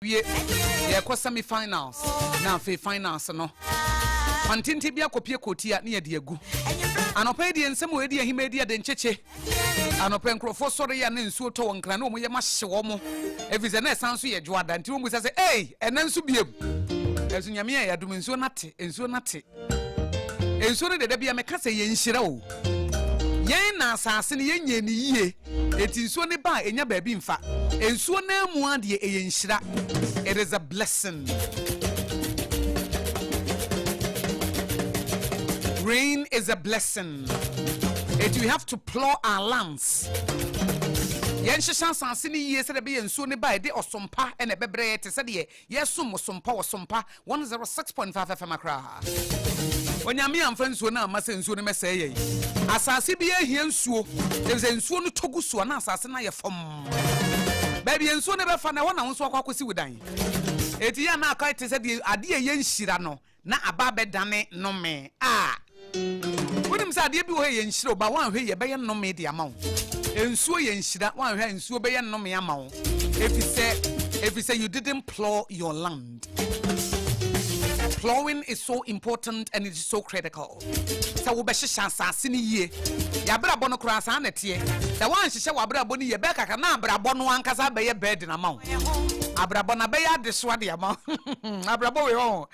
wie yɛ kɔ semi finals na afei finals no pantente bi akɔpie kɔtia ne yɛde agu anɔpa yi deɛ nsɛm wɔ ɛdi ahima ɛdi ade nkyekye anɔpa nkurɔfoɔ sɔre yɛ na nsuo tɔ wɔn nkra na wɔn yɛ ma hye wɔn ɛfiri sɛ na ɛsan so yɛ dwoada nti wɔn bisa sɛ ei ɛnɛ nso biem ɛso nyame yɛ yɛadom nsuo no ate nsuo no ate Nsuo no deɛ da bia meka sɛ yɛn nhyira o. Yɛn na asase no yɛn nyɛɛ no yie enti nsuo no ba a ɛnya baabi mfa. Nsuo no ara mu ara deɛ ɛyɛ nhyira. It is a blessing. Rain is a blessing. Enti we have to plow our lands. Yɛn hyehyɛ asase no yie sɛdeɛ ɛbɛyɛ nsuo no ba a ɛde ɔsompa ɛna ɛbɛbrɛ yɛ te sɛdeɛ Yɛ som mo sompa wɔ sompa one zero six point five FM Accra. Onyame amfa nsuo no amma sɛ nsuo no mɛsɛe yɛn. Asase biara hia nsuo efisɛ nsuo no tɔ gu so a na asase no ayɛ fɔmm. Baabi a nsuo no bɛfa no ɛhɔ na wo nso wakɔ akɔsi wo dan. Enti yɛn na akɔ ayɛ te sɛ deɛ adeɛ a ɛyɛ nhyira no na aba abɛdane nnome a, wonim sɛ adeɛ bi wɔ hɔ a ɛyɛ nhyira o, but woanhwɛ yie ɛbɛyɛ nnome de ama wo. Nsuo yɛ nhyira, woanhwɛ a nsuo bɛyɛ nnome ama wo, efisɛ, efisɛ you didn't plough your land. Ploughing is so important and it is so critical. sɛ wobɛhyehyɛ asase no yie. Y'abrabɔ no koraa saa na ɛteɛ. Sɛ woanhyehyɛ w'abrabɔ no yie, ɛbɛyɛ kakra na abrabɔ no ankasa abɛyɛ burden ama wo. Abrabɔ no abɛyɛ adesoa de ama wo. Abrabɔ wei ɔho.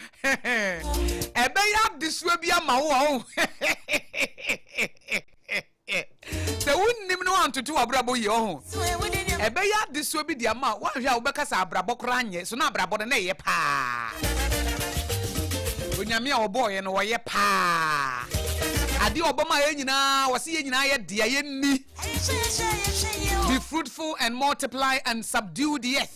Ɛbɛyɛ adesoa bi ama wo ɔho. Sɛ wonnim na woantoto w'abrabɔ yie ɔho, ɛbɛyɛ adesoa bi de ama a woanhwɛ a wobɛka sɛ abrabɔ koraa nyɛ. So na abrabɔ no na ɛyɛ paa? Onyame a ɔbɔɔ yɛn no ɔyɛ paa. Adeɛ a ɔbɔ maa yɛn nyinaa, ɔse yɛn nyinaa yɛ dea, yɛnni. Be fruitful and multiply and subdue the earth.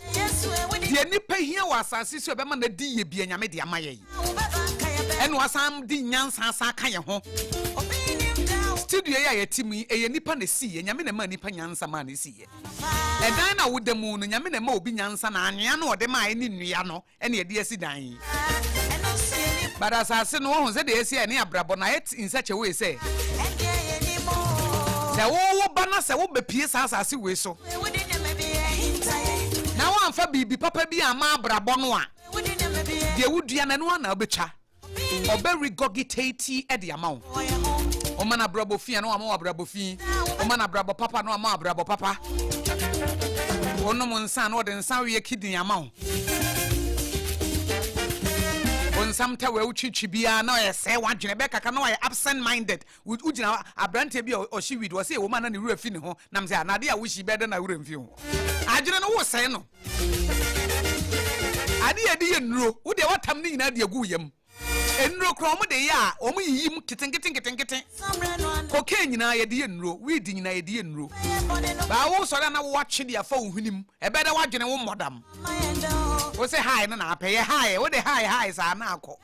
Deɛ nnipa hia wɔ asase so a ɛbɛma no adi yie biara, Nyame de ama yɛn. Ɛnna wasan de nyansa asan aka yɛn ho. Studio yi a yɛte mu yi, ɛyɛ nnipa na ɛsiiɛ. Nyame na ɛmaa nnipa nyansa maa no siiɛ. Ɛdan no a woda mu no, Nyame na ɛmaa obi nyansa na anwea no a ɔde maaeɛ ne nnua no ɛne ɛde asi dan yi but asase no wɔhu sɛdeɛ ɛsi a ɛne abrabɔ no ayɛ in such a way sɛ sɛ wowo ba no sɛ wobɛpie saa asase wei so na woamfa biribi papa bi ama abrabɔ no a deɛ wodua no ɛno a na wobɛtwa Ɔbɛ regurgitate ɛde ama wo. Ɔma no abrabɔ fi a na wama wo abrabɔ fi. Ɔma no abrabɔ papa na wama wo abrabɔ papa. Ɔnom nsa na ɔde nsa weɛ kidney ama wo. Ɔnsam tɛ wɛ wotwitwi biara na ɔyɛ sɛe w'adwene bɛkaka na wayɛ absent minded Wo wogyina hɔ abranteɛ bi a ɔhye weed wɔsɛ ɛwɔ mu a na ne wura fi ne ho nam sɛ a na adeɛ a wohyi bɛyɛ dɛ na wura mfi ho adwene no wosɛe no adeɛ yɛde yɛ nnuro wo deɛ watam ne nyinaa de agu wo yam nnuro koraa wɔn de yɛ a wɔn yiyi mu ketenkete nketenkete kokain nyinaa yɛde yɛ nnuro weed nyinaa yɛde yɛ nnuro baa wosɔre a na wowatwe de afa wo hwenem ɛbɛyɛ dɛ wadwene wo mmɔdam wo se hae no na apɛ yɛ hae wo de hae hae saa na akɔ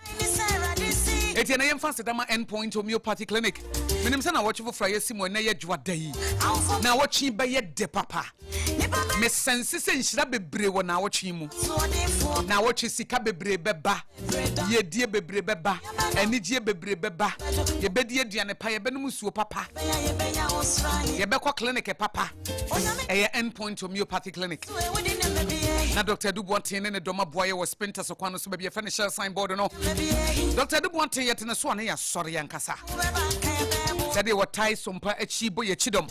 ɛti na yɛmfa seda ma end point homeopathy clinic menim sɛ na wɔtwe foforɔ a yɛsi mu ɛnɛ yɛ adwoa da yi na wɔtwe bɛyɛ de papa mesɛnse sɛ nhyira bebree wɔ na wɔtwe mu na wɔtwe sika bebree bɛba Yiedie bebree bɛba, anigyeɛ bebree bɛba. Yɛbɛdi aduane pa, yɛbɛnom nsuo papa, yɛbɛkɔ clinic papa. Ɛyɛ End Point Homeopathy Clinic. Na Dr. Adu Boateng ne ne dɔm aboa yɛ wɔ Spintex kwan no so baabi yɛfɛ no Shell signboard no. Dr. Adu Boateng yɛtene so a ne yɛasɔre ankasa. Sɛdeɛ wɔtae sompa akyi bɔ yɛakyi dɔm.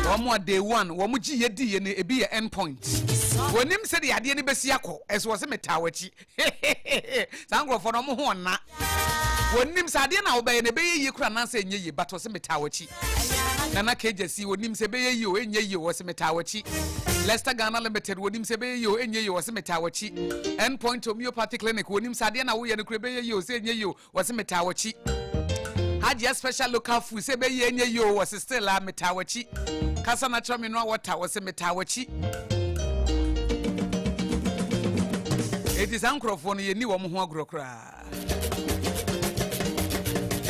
wɔn a day one wɔn gye yɛ di yɛ no ebi yɛ end point wɔnim sɛ deɛ adeɛ no bɛsi akɔ ɛso wɔ sɛ metaa wɔakyi saa nkurɔfoɔ no wɔn ho ɔna wɔnim sɛ adeɛ na wɔbɛyɛ no ɛbɛyɛ yie kora anaasɛ ɛnyɛ yie but wɔ sɛ metaa wɔakyi nana kagya si wɔnim sɛ ɛbɛyɛ yie o ɛnyɛ yie wɔ sɛ metaa wɔakyi Lester Ghana Limited wɔnim sɛ ɛbɛyɛ yie o ɛnyɛ yie wɔ sɛ metaa wɔakyi end point homeopathy clinic wɔnim sɛ adeɛ na woyɛ no kora ɛbɛyɛ yie o sɛ ɛnyɛ yie o Wɔse metaa wakyi. Hajia special local food sɛ bɛyɛ nyɛ yi o wɔse still a metaa wakyi. Kasa na kyerɛ me noa wɔta wɔse metaa wakyi. Eti saa nkorɔfoɔ no yɛnni wɔn ho agorɔ koraa.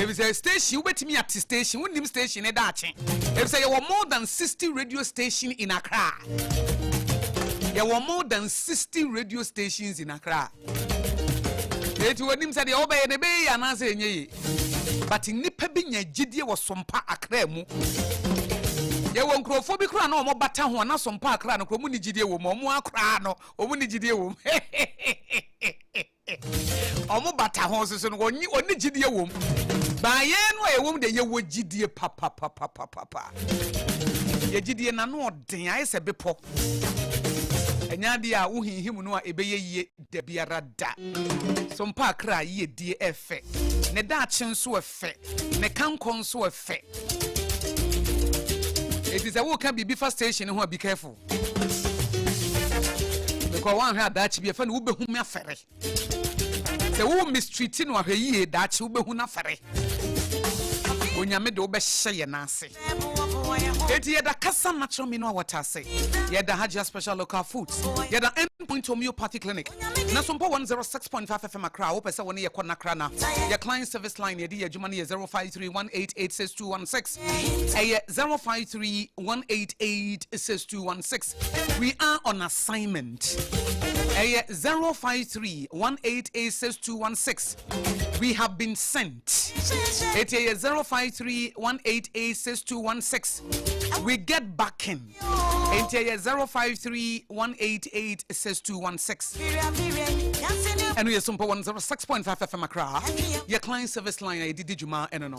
Efisɛ station wobɛtumi ate station wonnim station ne daakye. Efisɛ yɛwɔ more than 60 radio station in Accra. Yɛwɔ more than 60 radio stations in Accra. eti wɔnim sɛ deɛ wɔbɛyɛ no ɛbɛyɛ yie anaasɛ ɛnyɛ yie but nnipa bi nya gyidie wɔ sompa akra mu yɛwɔ nkurɔfoɔ bi koraa na wɔn bata ho na sompa akra no koraa wɔn ni gyidie wɔ mu wɔn akora no wɔn ni gyidie wɔ mu wɔn bata ho soso no wɔn ni wɔn ni gyidie wɔ mu baayɛ no a ɛwɔ mu deɛ yɛwɔ gyidie papapapapapa yɛ gyidie na no ɔda. den ayɛ sɛ bepɔ. Ɛnyɛ adeɛ a wohinhim no a ɛbɛyɛ yie da biara da. So mpaa kra yiedie ɛ fɛ? Ne daakye nso ɛ fɛ? Ne kankɔ nso ɛ fɛ? Enti sɛ woka biribi fa station no ho a be careful. Because woanhwɛ a daakye bi ɛfɛ no wobɛhu me afɛre. Sɛ wo mistreati no ahwɛ yie daakye wo bɛhu nafɛre. Onyame de wo bɛhyɛ yɛ nan ase. Eti yɛda kasa natural mineral water ase. Yɛda Hajia special local foods. Yɛda end point homeopathy clinic. Na so mpo 106.5 FM akra a wopɛ sɛ wo ne yɛ kɔ nakra na. Yɛ client service line yɛde yɛ adwuma no yɛ 0531886216. Ɛyɛ 0531886216. We are on assignment. Ɛyɛ 0531886216. We have been sent. Ɛti ɛyɛ 0531886216. We get back in. Ɛti ɛyɛ 0531886216. Ɛno yɛ Sumpɔ 106.5 FM Accra. Yɛ client service line a yɛde di dwuma ɛno no.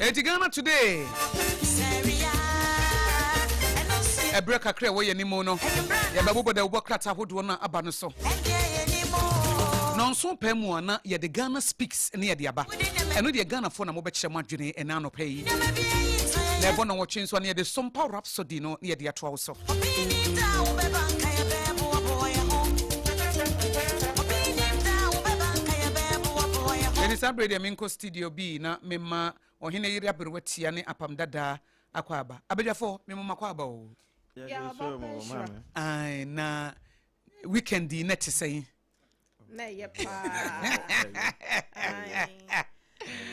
Eti Ghana today ɛberɛ kakra ɛwɔ yɛn mu no yɛbɛbobɔ dawubɔ krataa ahodoɔ no aba no so nɔnso pɛ mu a na yɛde ghana speaks ne yɛde aba ɛno deɛ ghanafoɔ na mobɛkyerɛ mo adwene ɛna anɔpɛ yi na ɛbɔ nɔnwɔtwe nso a na yɛde sompa rap So di no na yɛde atoa wo so. Ɛne saa berɛ deɛ menkɔ studio bi na mema ɔhene yere aberewa tia ne apam dadaa akɔ aba abadwafoɔ memoma kɔ aba o na weekend yi na te sɛn na ɛyɛ paa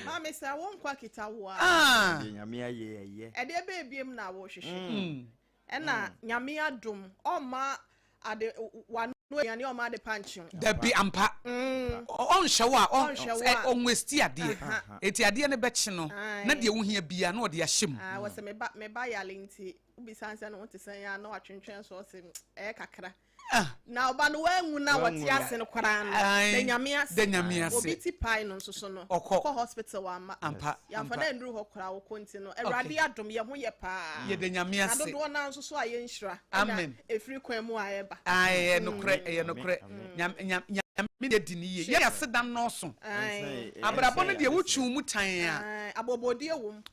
maame sɛ wo nkwa kita wo a ah. nyame ayɛ ɛyɛ ɛdeɛ bɛɛ biem na wohwehwɛ mm. mm. ɛna mm. nyame adom ɔma ade wano aduane ɔma ade pa nkyew dabi ampa ɔnhyɛ wo a ɔnwesti adeɛ ɛti adeɛ no bɛkye no na deɛ wohia bia na ɔde ahyɛ mu ah, wɔ sɛ meba yale nti wobisa sɛ no wote sɛ yɛ a na watwentwɛn so ɔse ɛyɛ kakra Ah. Na ɔba no wanwu na Wanwu wɔte no. ase no koraa no Ae. da nyame ase Da Nyame ase. obi ti pae no nso so no Ɔkɔ. ɔkɔ hospital wamma Ampa, yɛamfa ampa. no anduru hɔ koraa wokɔ nti no awurade adom yɛ ho yɛ paa Yɛda Nyame na ase. dodoɔ no ara nso so a yɛ nhyira Amen. ɛna ɛfiri kwan mu a ɛba Ae, ɛyɛ nokorɛ, ɛyɛ Amen. nokorɛ. Amen. Nyame, Nyame, Nyame deɛ di no yie. Yɛn asedam nnɔɔso. Ae. Abrabɔ no deɛ wotwiw mu tan a. Ae, abɔbɔdie wom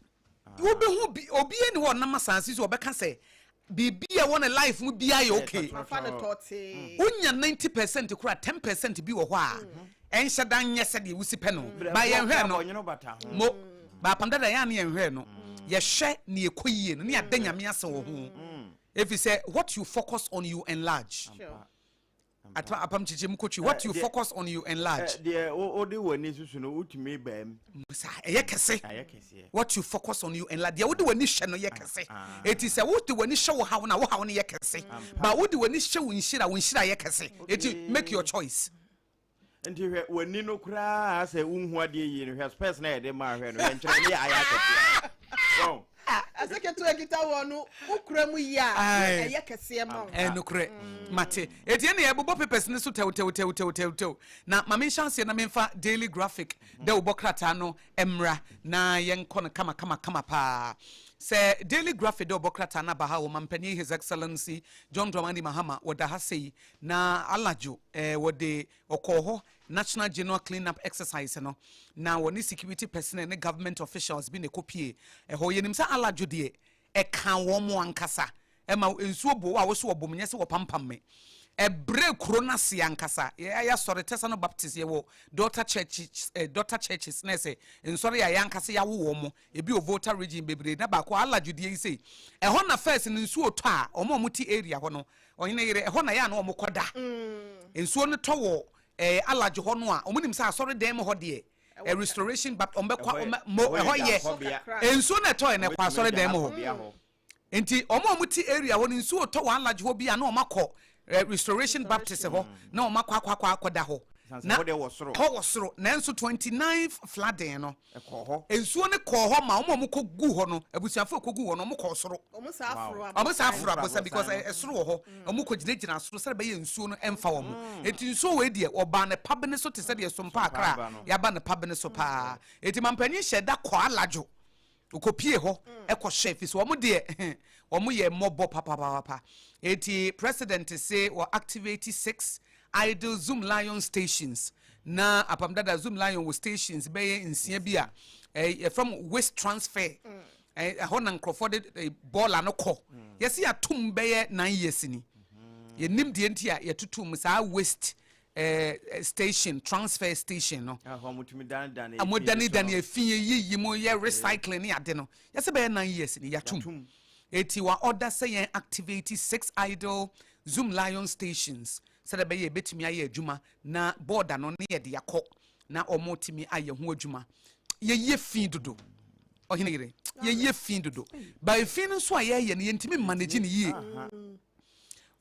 Wobɛhu bi, obiara ni hɔ ɔnam asase so ɔbɛka sɛ biribi a ɛwɔ ne life mu biara yɛ okay. Wonya ninety percent kora ten percent bi wɔ hɔ a mhm. ɛnhyɛ da nyɛ sɛdeɛ wosi pɛ no ba yɛnhwɛ no mo baapam dada yɛn a ne yɛnhwɛ no mm. yɛhwɛ ne ɛkɔ yie no ne yɛada mm. nyame ase wɔ ho ɛfiri mm. sɛ what you focus on you enlarge Atena apam nkyekyɛm mu kotwi. What you focus on you enlarge. Deɛ wode w'ani susu no wotumi baa mu. Saa ɛyɛ kɛse. What you focus on you enlarge. Deɛ wode w'ani hwɛ no yɛ kɛse. Eti sɛ wode w'ani hyɛ wo haw na wo haw no yɛ kɛse. Ba wode w'ani hyɛ wo nhyira wo nhyira yɛ kɛse. Eti make your choice. Nti hwɛ wani no koraa sɛ wonhu adeɛ yie no hwɛ spɛs na yɛde maa hwɛ no hwɛ nkyerɛ ne ayɛ akɛseɛ wɔn. ɛsɛ ketewa ekita wɔn no wokura mu yie a ɛyɛ kɛseɛ ma wɔn. ɛnukurɛ mate eti ɛna yɛbobɔ papers ne so tɛwtɛwtɛwtɛwtɛw na maame nhyɛ aseɛ na menfa daily graphic dɛ wobɔ krataa no mmra na yɛnkɔ no kama kama kama paa sɛ daily graphic dɛ wobɔ krataa no aba ha wɔ mampanin his excellency john dramani mahama wɔda ha sɛ yi Na anadwo eh, wɔde ɔkɔɔ hɔ National General Clean Up Exercise no, na wɔne security personnel ne government officials bi na ɛkɔpie ɛhɔ. Yɛnim sɛ anadwo deɛ ɛkaa wɔn ankasa, ɛma nsuo boo a woso wɔbom nyɛ sɛ wɔpampam me. Ɛbrɛɛ kuro no ase ankasa. Yɛ- Yɛasɔre Tesano Baptist, yɛwɔ daughter churches, eh, daughter churches na ɛsɛ nsɔre a yɛn ankasa yɛawo wɔn mo. Ebi wɔ Volta region bebree na baako anadwo deɛ yi sei. Ɛhɔ na first no nsuo tɔ a, wɔn a wɔte area hɔ no, Ɔhene yere, ɛhɔ na ɛyɛ a na wɔkɔda. Nsuo no tɔ wɔ eh, Alaj hɔ no a, wɔn nim sɛ asɔre dan mu hɔ deɛ eh, restoration but wɔn bɛkɔ wɔn mo ɛhɔ yɛ eh, nsuo na ɛtɔ yɛ na ɛkɔ asɔre dan mu hɔ. Nti wɔn a wɔn ti area hɔ no nsuo tɔ wɔ Alaj hɔ bi a na wɔn akɔ eh, restoration Baptist hɔ na wɔn akɔ akɔ akɔ akɔda hɔ. Na hɔ wɔ soro nanso 29 flooding no. Ɛkɔɔ hɔ. Nsuo no kɔɔ hɔ ma wɔn a wɔkɔguu hɔ no, abusuafoɔ a wɔkɔguu hɔ no, wɔkɔɔ soro. Wɔsan foroo aborosan. Wɔsan foroo aborosan because ɛsoro wɔ hɔ. Wɔkɔgyinagyinaa soro sɛdeɛ ɛbɛyɛ nsuo no mfa wɔn. Enti nsuo wei deɛ, wɔbaa ne pabene so te sɛ deɛ sompaa kra a yɛaba ne pabene so pa ara. Enti Mampanin hyɛɛ da kɔɔ Alajo. Wɔkɔpuee hɔ kɔhyɛɛ ɛfiri sɛ wɔn deɛ, wɔyɛ mmɔbɔ papapapapa. Enti President se wɔactivate six idle Zoom Lion stations. Na Apam Dada Zoom Lion wɔ stations bɛyɛ nsia bi a yɛfrɛ mo waste transfer. Ɛhɔ na nkurɔfoɔ de bɔɔla no kɔ. Yɛsi atum bɛyɛ nine years ni. Yɛnim deɛ nti a yɛtutu mu saa waste Eh, eh, station transfer station no ah, ɔmo dani dani efi yɛ yiyi mo yɛ eh. recycling ne ade no yɛsɛ bɛyɛ nine years ni yatum eti wa ɔda sɛ yɛn activate six idle zoom lion stations sɛdeɛ bɛyɛ ebetumi ayɛ adwuma Na border no ne yɛde akɔ na wɔn tumi ayɛ ho adwuma yɛyɛ fii dodo ɔhene yere yɛyɛ fii dodo ba efii no nso a yɛyɛ no yɛntumi mma n'agyi ne yie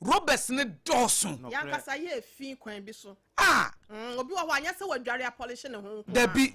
robes ne dɔɔso yankasa yɛ efii kwan bi so a mm, obi wɔ hɔ anyɛ sɛ wadware apɔlehye ne ho nko dabi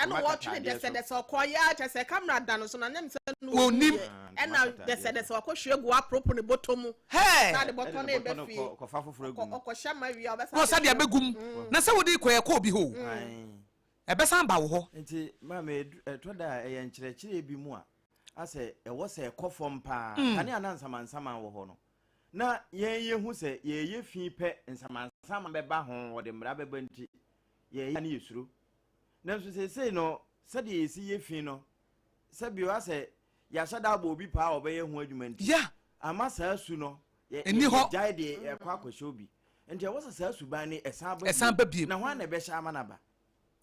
Ɛna ɔtwene dɛsɛdɛsɛ ɔkɔɔ yɛ ara kyɛ sɛ camera da no so na nyɛ sɛ no wɔnni yɛ ɛna dɛsɛdɛsɛ wakɔ hwie gu aporopo ne bɔtɔ mu na de bɔtɔ no ɛbɛ fie ɔkɔhyɛ ma wie a ɔbɛsa ɔsa de abɛgu mu mm. na sɛ wode kɔ ɛkɔ obi hɔ ɛbɛsan ba wo hɔ nti maame ɛtɔ da a ɛyɛ nkyerɛkyerɛ bi mu a asɛ ɛwɔ sɛ ɛkɔ fam paa mm. kane ana nsamansaman wɔ hɔ no na yɛn yɛhu sɛ yɛyɛ fi pɛ nsamansaman bɛba ho wɔde mmara bɛba nti yɛyɛ a na yesuro. Nanso seesei no, sɛdeɛ yɛsi yɛ fi no, sɛ bi a sɛ yɛahyɛ da abɔ obi paa a ɔbɛyɛ ho adwuma nti, Yeah. amma saa su no, yɛ, Ɛnni yɛ, hɔ. yɛgyae de ɛkɔ akɔhyɛ obi. Enti ɛwɔ sɛ saa suban no ɛsan ba Ɛsan bio. ba bio. Na hwan na ɛbɛhyɛ ama no aba?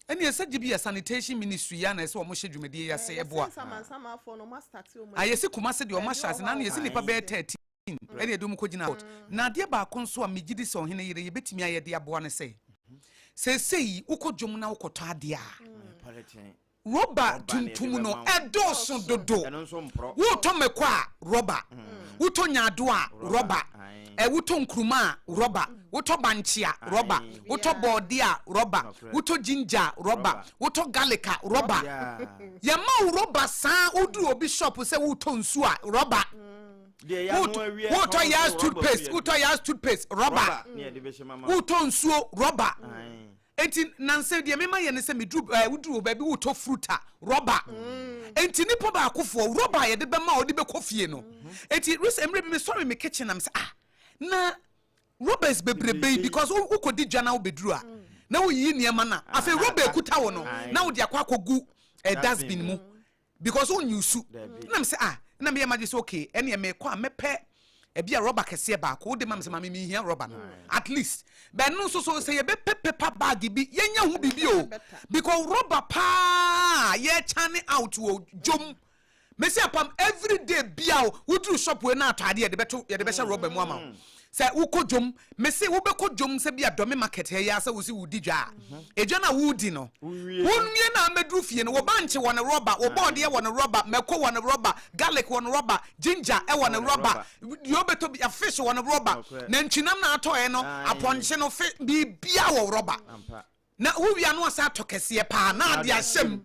Ɛnneɛ sɛ gye bi yɛ sanitation ministry yi a na ɛsɛ wɔn hyɛ dwumadie yi ase, Ɛɛ, yɛsɛ ɛboa. nsamansamanfoɔ no wɔn astate wɔn a, adwuma. yɛsi Kumasi deɛ wɔn Ɛnyɛ ahyɛ ase, wɔn a naano yɛsi wɔn a. nnipa bɛyɛ Ayi. thirteen. Spain na ɛde wɔn kɔgyinaa kɔɔt. Na adeɛ baako nso a megye di sɛ ɔhene yere yi bɛtumi ayɛ de aboa ne sɛ, seesei wokɔ dwam na wokɔtɔ adeɛ a, rɔba tuntum no ɛdɔɔso dodo. Wotɔ mako a, rɔba. Wotɔ nyaado a, rɔba. Wotɔ nkuruma a, rɔba. Wotɔ bankye a, rɔba. Wotɔ bɔɔdeɛ a, rɔba. Wotɔ ginger a, rɔba. Wotɔ garlic a, rɔba. Yɛma wo rɔba saa ara, woduru obi shop sɛ woretɔ nsuo a, rɔba. wotɔ yas toothpaste wotɔ yas toothpaste rɔba wotɔ nsuo rɔba eti nansa deɛ mema yɛ ne sɛ meduru ɛɛ eh, woduru baabi wotɔ fruta rɔba eti mm. nipa baakofoɔ rɔba a yɛde bɛma a ɔde bɛkɔ fie no mm-hmm. eti risa mmerɛ bi mesɔre me kitchen am sɛ ah na rɔbas bebrebe yi because wokɔdi dwa na wobɛduru a mm. na woyiyi nneɛma no a ah, afei rɔba ekuta wo no na wode akɔ akɔgu eh, dustbin mu. Because wonni osu. Ɛna me sɛ ah, ɛna meyɛ m'adwene sɛ okay, ɛneɛ mekɔ a mɛpɛ ɛbi a rɔba kɛseɛ baako wode ma me sɛ maame menhia rɔba no at least bɛn no nso so sɛ yɛbɛpɛ paper bag bi yɛnya ho biribi o because rɔba paa yɛkyane out wɔ dwom mɛsi apam everyday bia o woduru shop wei na atɔ adeɛ yɛde bɛto yɛde bɛhyɛ rɔba mu ama wo Sɛ wo kɔ dwom, me se wo bɛ kɔ dwom sɛ bia dɔme market hɛ yi ara sɛ wo se wo di dwa a, edwa no a wo di no, wo nwie no a mɛ duru fie no, wo bankye wɔ no rɔba, wo bɔɔdeɛ wɔ no rɔba, mako wɔ no rɔba, garlic wɔ no rɔba, ginger ɛwɔ no rɔba, deɛ wo bɛ tɔ bia, fish wɔ no rɔba, nantwinam na atɔ ɛ no, apɔnkye no, fi, biribiara wɔ rɔba. Na wo wie a na w'asan atɔ kɛseɛ paa na de ahyɛ mu.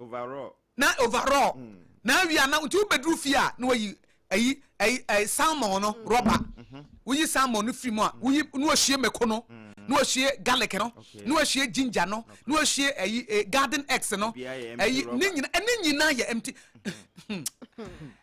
Overall. Na overall. Mm. Na awia na nti wobɛduru fie a na wayi ayi ayi ayi salmon no mm. rɔba. Mm-hmm. Woyi salmon no firi mu a mm. woyi na wahyie mako no mm. na wahyie garlic no na wahyie ginger no na wahyie ayi eh, garden eggs no ayi ne nyina ɛne nyina yɛ empty.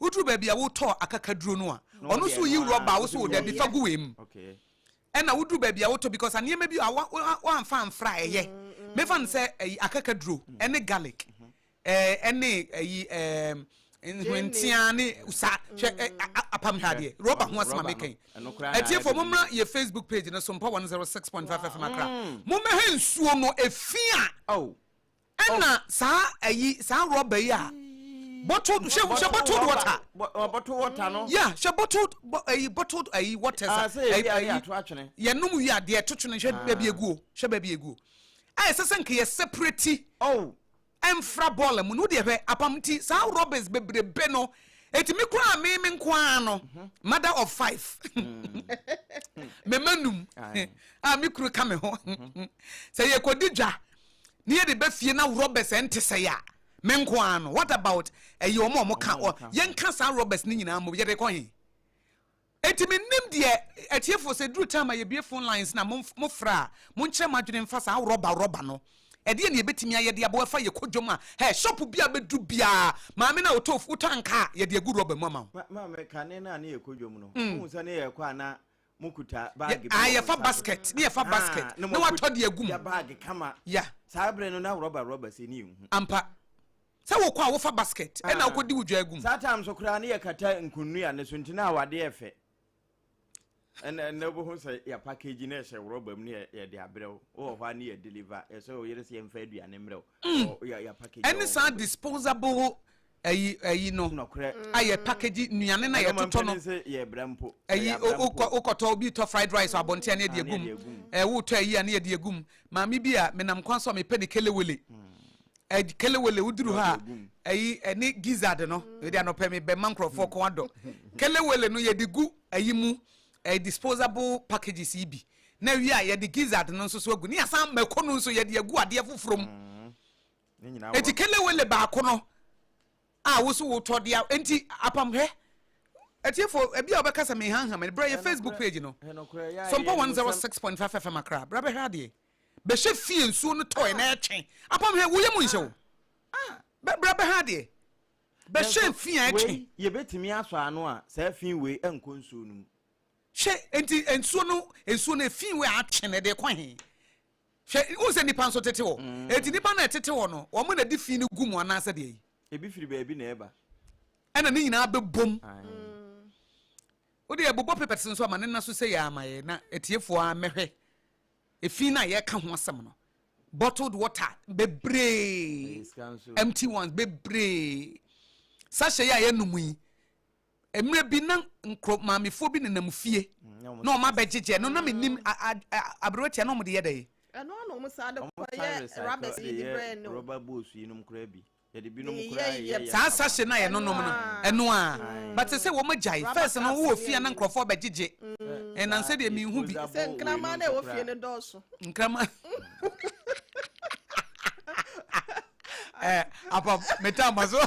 Woduru baabi a wotɔɔ akakaduro no a, ɔno nso woyi rɔba a wosɛ o dabi fa gu wei mu. Ɛna woduru baabi a wotɔ because nneɛma bi a woamfa amfra a ɛyɛ. Mefa no sɛ ɛyi akakaduro ɛne garlic ɛne ɛyi ɛɛm nhwentea ne sa hwɛ apam ha deɛ rɔba ho asɛm a meka yi. Atiefo mo mmra yɛ Facebook page no so mpa 106.5 FM akra. Mo mmɛhɛ nsuo no efi a. Ɛna saa ayi saa rɔba yi a bottled hwɛ hwɛ bottled water. bottled water no. ya hwɛ bottled ayi bottled ayi waters a. ase ebi ayi ato atwene. yɛnom wi adeɛ to twene hwɛ baabi eguo hwɛ baabi eguo a yɛsɛ sɛ nka yɛ separate. oh. ɛnfra bɔɔla mu no deɛ hwɛ apam ti saa rɔbas bebrebe no etimi kura mi mi nko ara no mother of five mɛma num a mi kuru ka mi ho sɛ yɛ kɔ di dwa. Ne yɛde ba fie na robbers ɛnte sɛɛ a me nko ara no what about ɛyi wɔn a wɔn ka ɔ yɛn ka saa robbers ne nyinaa mmom yɛde kɔ he enti me nim deɛ atiefo sɛ duru time a yɛ bue phone lines na mo mo frɛ a mo nkyerɛ mo adwene mfa saa rɔba rɔba no ɛdeɛ ne yɛ bɛtumi ayɛ de aboa ɛfa yɛ kɔ dwom a hɛ shop bi a bɛduru biara maame na ɔtɔ fu wotɔ ankaa yɛde agu rɔba mu ama wo. Ma ma me kane no a ne yɛ kɔ dwom no mm. ohun sɛ ne yɛ kɔ a na mokuta baage bi wɔ mo nsa so. Ae, yɛfa basket, ne yɛfa basket, ne watɔ deɛ agu mu. Yɛ baage kama. Ya. Saa berɛ no, na rɔba rɔba sei ne yɛnhu. Ampa. Sɛ wokɔ a wofa basket, ɛna wokɔ di wo dwa agu mu. Saa time so koraa ne yɛkata nkunnua no so, nti na awadeɛ yɛ fɛ. Ɛna ɛnɛ wobɛhu sɛ yɛ package na ɛhyɛ rɔba mu ne yɛde abrɛ wo. Wowɔ hɔ a ne yɛ deliver, ɛsɛ wo yere sɛ yɛmfa aduane mmerɛ wo. Yɛ package. Ɛne saa disposable Ɛyi ɛyi no a yɛ package nnuane na yɛ totɔ no ɛyi wokɔ wokɔtɔ obi tɔ fried rice abɔnten a ne yɛ de egum ɛɛ wotɔ ɛyi a ne yɛ de egum maame bi a menam kwan so a mepɛ ne kelewele ɛɛ kelewele woduru hɔ a ɛyi ɛne gizzard no ɛde anɔpɛ mi bɛn ma nkorɔfoɔ kɔn adɔ kelewele no yɛ de gu ɛyi mu ɛɛ disposable packages yi bi na wie a yɛ de gizzard no nso so agu ne yɛ asan mako no nso yɛ de agu adeɛ foforɔ mu. Enti kelewele baako no a wo so wotɔ de a enti apam hwɛ atiefo ebi a wɔbɛka sɛ mehanham ne brɛ yɛ facebook page no sɔmpɔ 106.5 fm akra brɛ bɛhwɛ adeɛ bɛhyɛ fie nsuo no tɔe na ɛtwe apam hwɛ woyɛ mu nhyɛ wo brɛ bɛhwɛ adeɛ bɛhyɛ fi a ɛtwe yɛbɛtumi asɔ ano a saa fi wei nkɔ nsuo no mu hwɛ enti nsuo no nsuo no fi wei atwe na ɛde kɔ he Hwɛ, wohu sɛ nnipa nso tete hɔ. Enti nnipa no a ɛtete hɔ no, wɔn na ɛde fi no gu mu anaasɛ deɛ yi? Ebi firi baabi na ɛba. Ɛna ne nyinaa bɛbom. Wode ɛbobɔ papers nso ama ne nna so sɛ yɛ ama yɛ na atiefoɔ a mɛhwɛ efi no a yɛka ho asɛm no. Bottled water bebree, empty ones bebree. Sachet yi a yɛnom yi, mmerɛ bi na nkuro maamefoɔ bi nenam fie mm, na wɔn abɛgyegye no na mm. menim aberewa tia na wɔn de yɛ dɛ. ɛno na wɔn saa de kɔyɛ rabɛs yi de brɛ no rɔba boos yi nom koraa bi yɛde bi nom koraa yɛ yɛ saa sase na yɛ nonom no ɛno a bate sɛ wɔn agyae fɛs no wɔ fie na nkurɔfoɔ abɛgyegye mm. ɛnan sɛ deɛ mihu bi sɛ nkraman na ɛwɔ fie no dɔɔso nkraman eh, apa metaa ma so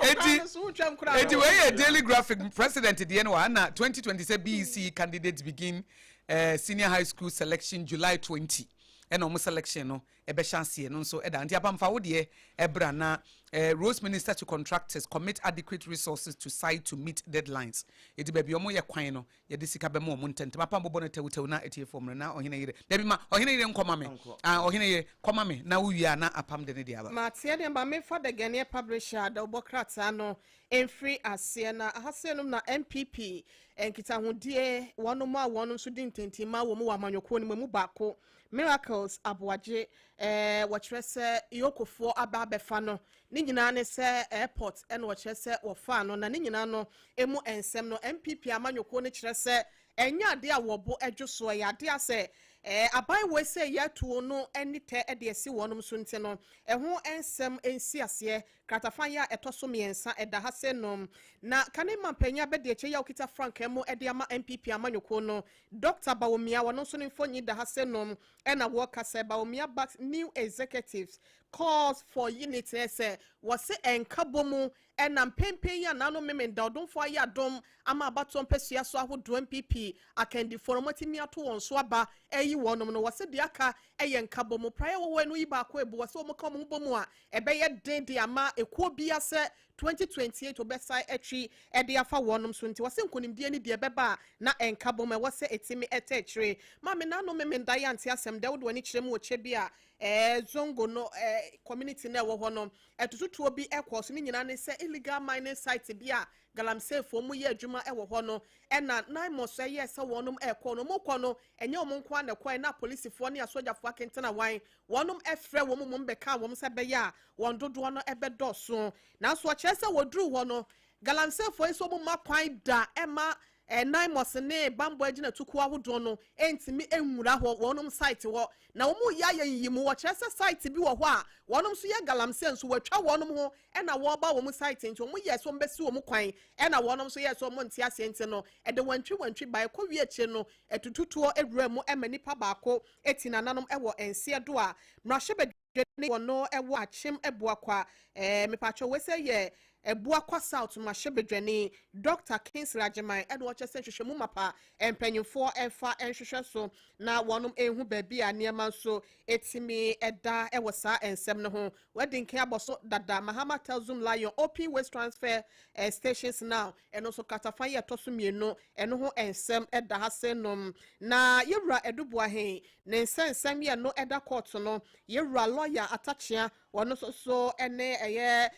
eti eti wei yɛ daily graphic president deɛ no wa na 2020 sɛ bec candidates begin uh, senior high school selection july 20 ɛna ɔmo selection no ɛbɛhyɛ aseɛ no nso ɛda nti apamfa wo deɛ ɛbra na eh, rose minister to contractors commit adequate resources to site to meet deadlines eti baabi ɔmo yɛ kwan no Yɛde sika bɛma wɔn ntɛmntɛm. Apam bobɔ no tɛwtɛw na etie fam no, na ɔhene yere, Dabi, ma ɔhene yere nkɔma me. Aane, ɔhene yere, kɔma me, na wowie a na Apam de ne deɛ aba. Mateɛ deɛ, ma memfa The Ghanaian Publisher adawubɔ krataa no mfiri aseɛ. Na aha sei nom na NPP nkitahodie, wɔnom a wɔnom nso di ntintim ma wɔ mu wɔ amanyɔkuo no mu, emu baako Miracles Aboagye, eh, wɔkyerɛ sɛ Iyokofoɔ aba abɛfa no. Ne nyinaa ne sɛ airport na wɔkyerɛ sɛ wɔfaa no, na ne nyinaa no mu nsɛm no, NPP amanyɔkuo no kyerɛ sɛ ɛnyɛ adeɛ a wɔn bo dwo so, ɛyɛ adeɛ a sɛ eh, aban wei sɛ yɛ atuo no ani tɛ de asi wɔnom so nti no, ɛho nsɛm nsi aseɛ. Kratafa yɛ a ɛtɔ so mmiɛnsa ɛda ha sei nom, na kane mampanyin abɛdeɛkyɛ yi a ɔkita frankaa mu de ama NPP amanyɔkuo no Dɔkta Bawumia, ɔno nso ne mfonyin da ha sɛ no na wɔka sɛ Bawumia backs new executives calls for unity sɛ wɔse ɛnkabomu na mpenpen yi a Nano Memenda Odomfoɔ ayɛ adom ama abatoɔ mpɛsua so ahodoɔ NPP akandifoɔ no wɔatumi ato wɔn so aba ayi wɔnom no wɔse deɛ aka yɛ nkabomu praeɛ wɔwɔ ɛno yi baako abu wɔse wɔka wɔn ho bɔ mu a ɛbɛyɛ den de ama ekuo bia sɛ twenty twenty eight wɔbɛsan atwi de afa wɔnom so nti wɔse nkonimdie ne deɛ ɛbɛba a na ɛnka bom ɛwɔ sɛ ɛtimi ɛtɛ akyire. Maame Nano Memenda yɛ ante asɛm dɛ wode w'ani kyerɛ mu wɔ kyɛ bi a ɛɛ Zongo no ɛɛ community no a ɛwɔ hɔ no atututuo bi ɛkɔɔ so ne nyinaa ne sɛ illegal mining site bi a Galamseyfoɔ mu yɛ adwuma ɛwɔ hɔ no ɛna Naimos ɛyɛɛ sɛ wɔnom ɛɛkɔ no wɔkɔ no ɛnyɛ wɔn nko ara na ɛkɔɛ na apolisifoɔ ne asogyafoɔ akentena wan Wɔnom frɛ wɔn mmom bɛkaa wɔn sɛ ɛbɛyɛ a wɔn dodoɔ no bɛdɔɔso. Nanso ɔkyerɛ sɛ wɔduruu hɔ no, Galamseefoɔ yi nso wɔmma kwan da mma Naimos ne bammɔ agyinatukuo ahodoɔ no ntumi nwura hɔ, wɔnom site hɔ. Na wɔn reyɛ ayɛ nyiyimu, wɔkyerɛ sɛ site bi wɔ hɔ a wɔnom nso yɛ Galamsee nso wɔatwa wɔnom ho na wɔreba wɔn site nti wɔn yɛɛ sɛ wɔn bɛsi wɔn kwan ɛna wɔnom nso yɛɛ sɛ wɔn nte aseɛ nti no ɛde wantwi wantwi baeɛ kɔwie akyire no ɛtututuɔ wuram ma nipa baako etsi nananom wɔ nseɛ do a, mbrahyɛbadwa ne hɔn no wɔ akyem Abua Kwa. Ɛɛ, mepaakyɛw, wei sɛ yɛ Abua Kwa South mbrahyɛbadwani, Dɔkta Kingsley Agyeman, na ɔkyerɛ sɛ nhwehwɛmu mapa mpanyimfoɔ mfa nhwehwɛ so na wɔnom ehu baabi a neɛma nso etimi da wɔ saa nsɛm no ho. W'adi nkan abɔ so dada, Mahama tells Zoom Lion open waste transfer stations now. Ɛno nso katafan yi a ɛtɔ so mmienu no ho nsɛm da ha sennom. Na Yɛwura Adu Boahen ne nsɛnsɛm yɛ no da kɔɔto no, Yɛwura Lɔya Atakyea wɔn nso so ne ɛyɛ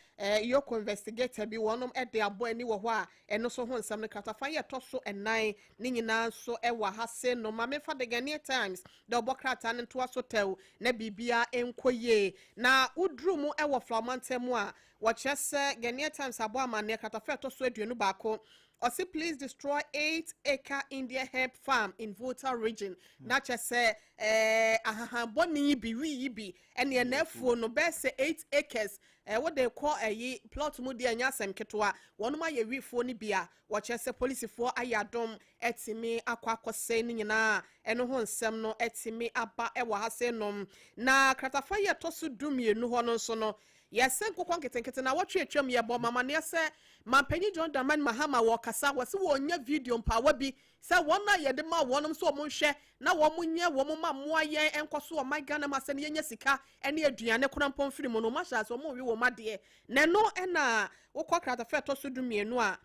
Yoko Investigator bi wɔn de abɔ ani wɔ hɔ a ɛno nso ho nsɛm no katafan yi a ɛtɔ so nnan ne nyinaa nso wɔ ha sennom. Ma memfa The Ghanaian Times dɛ ɔbɔ krataa no ntoa so tɛw na biribiara nkɔ yie. Na woduru mu wɔ Flaw mantam mu a, Wɔkyerɛ sɛ Ghanaian Times abɔ amanneɛ kratafa a ɛtɔ so aduonu baako, ɔse police destroy eight acre Indian hemp farm in Volta region, na kyerɛ sɛ eh, ahahan bɔne yi bi, wii yi bi, ɛne ɛna afuo no, bɛyɛ sɛ eight acres, eh, wode rekɔ ɛyi plot mu deɛ ɛnyɛ asɛm ketewa, wɔnom ayɛ wii fuo no bi a, wɔkyerɛ sɛ polisifoɔ ayɛ adom atumi akɔ akɔsɛe ne nyinaa, ɛno ho nsɛm no atumi aba ɛwɔ ha sei nom. Na kratafa yi a ɛtɔ so du mmienu hɔ no nso no, Yɛse nkokɔ nketenkete na wɔtwe atwam yɛbɔ mo amaneɛ sɛ Mampanyin John Dramani Mahama wɔɔkasa wɔse wɔɔnya video mpaawa bi sɛ wɔn a yɛde maa wɔnom sɛ wɔn nhwɛ na wɔn nyɛ wɔn mma mmoa yɛn ɛnkɔ so ɔman Ghana mu asɛm yɛnya sika ɛne aduane korampɔ mfiri mu no wɔn ahyɛ ase wɔn nwe wɔn adeɛ na ɛno ɛna wokɔ kratafa ɛtɔ so du mmienu a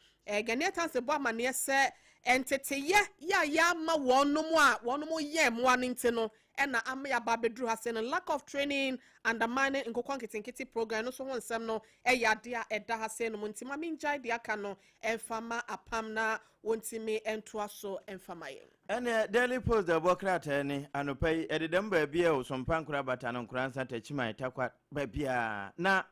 Ghanaian Times bɔ amaneɛ sɛ nteteyɛ yɛ a yɛama wɔnom a wɔnom yɛn mmoa no nti no ɛna ama yɛaba abɛduru ha sɛ no lack of training undermining nkokɔ nketenkete program no nso ho nsɛm no yɛ adeɛ a ɛda ha sɛ nom nti ma mengyae deɛ aka no mfa ma apam na wɔntumi ntoa so mfa ma yɛn. Ɛneɛ Daily Post deɛ ɛbɔ krataa ni, Anɔpa yi, ɛdedam baabiara o, Sompa, Nkorabatan, Nkoransa, Takyiman, Takwa, baabiara. Na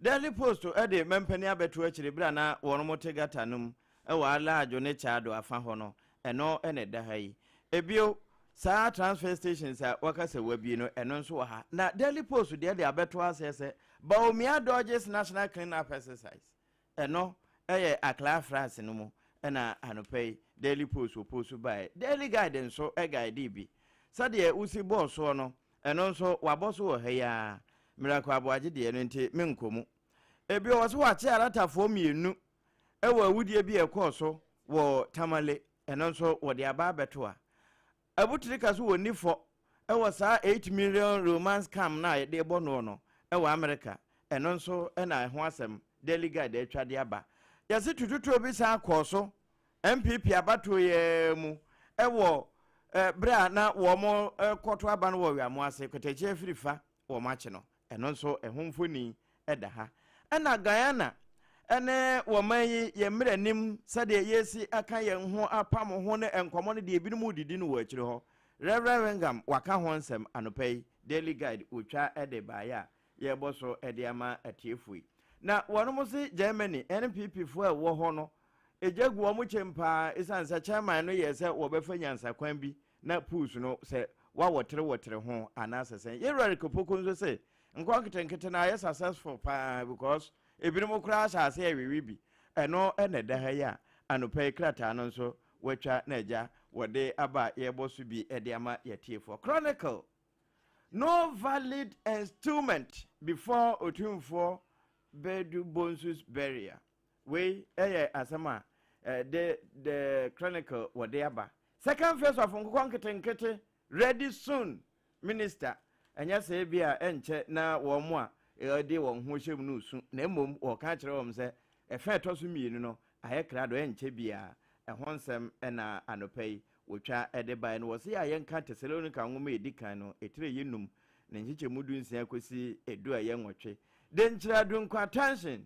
Daily Post de mampanin abɛto akyiri berɛ a na wɔn te gata no mu. Ɛwɔ Alajo ne Tsado afa hɔ no, ɛno na ɛda ha yi. Bio, saa transfer stations a wɔaka sɛ wɔabue no, ɛno nso wɔ ha. Na Daily Post deɛ de abɛto aseɛ sɛ, Bawumia dodges National clean-up exercise. Ɛno yɛ Accra afraase no mu na anɔpa yi Daily Post wɔpost baeɛ. Daily Guide nso guidee bi. Sɛdeɛ wosi bɔɔ soɔ no, ɛno nso wɔabɔ so wɔ ha yi ara. Miracle Aboagye deɛ no nti, menkɔ mu. Bio, wɔse wɔakye Aratafoɔ mmienu wɔ awudie bi a ɛkɔɔ so wɔ Tamale, ɛno nso wɔde aba abɛto a. Abutrika nso wɔ ni fɔ wɔ saa eight million Roman scam no a yɛde bɔ noɔ no wɔ Amerika, ɛno nso na ɛho asɛm Daily Guide atwa de aba. Yɛse tututuo bi san kɔɔ so NPP abatoɔ yi ara mu wɔ berɛ a na wɔrekɔto aba no wɔ Weamoase, Kwatakyia firi fa wɔakye no. Ɛno nso ɛho mfoni da ha. Ɛna Guyana ne wɔn man yi yɛ mmerɛ nim sɛdeɛ yɛresi aka yɛn ho apam ho ne nkɔmmɔ no deɛ ebinom redidi no wɔ akyire hɔ. Rev. Whingham waka ho nsɛm anɔpa yi. Daily Guide wɔtwa de baeɛ a yɛrebɔ so de ama atiefoɔ yi. Na wɔnom se Germany NPP foɔ a ɛwɔ hɔ no gya gu wɔn kyɛm paa esiane sɛ chairman no yɛɛ sɛ wɔbɛfa nyansakwan bi Na pus no sɛ wawɔtere wɔtere ho anaasɛ sɛn. Yɛn wura Rick Opoku nso se, Nkɔɔ nketenkete no ayɛ successful pa ara because ebinom koraa ahyɛ aseɛ rewewe bi. Ɛno na ɛda ha yi a anɔpa yi krataa no nso wɔatwa na agya wɔde aba a yɛrebɔ so bi de ama yɛn atiefoɔ. Chronicle, No valid enstument before Otumfoɔ Badu Bonsu's burial. Wei yɛ asɛm a The The Chronicle wɔde aba. Second phase of nkokɔ nketenkete ready soon, Minister. Ɛnyɛ sɛ ebi a ɛnkyɛ na wɔn a wɔde wɔn ho hyɛ mu no resu, na mmom wɔka akyerɛ wɔn sɛ ɛfã a ɛtɔ so mmienu no ayɛ krado, ɛnkyɛ biara. Ɛho nsɛm na anɔpa yi wɔtwa de baeɛ no. Wɔse a yɛnka Tesalonika nwoma a ɛdi kan no etire yi num ne nkyekyɛmu du nsia kɔsi edu a ɛyɛ nwɔtwe. Denkyira Dunko Attention!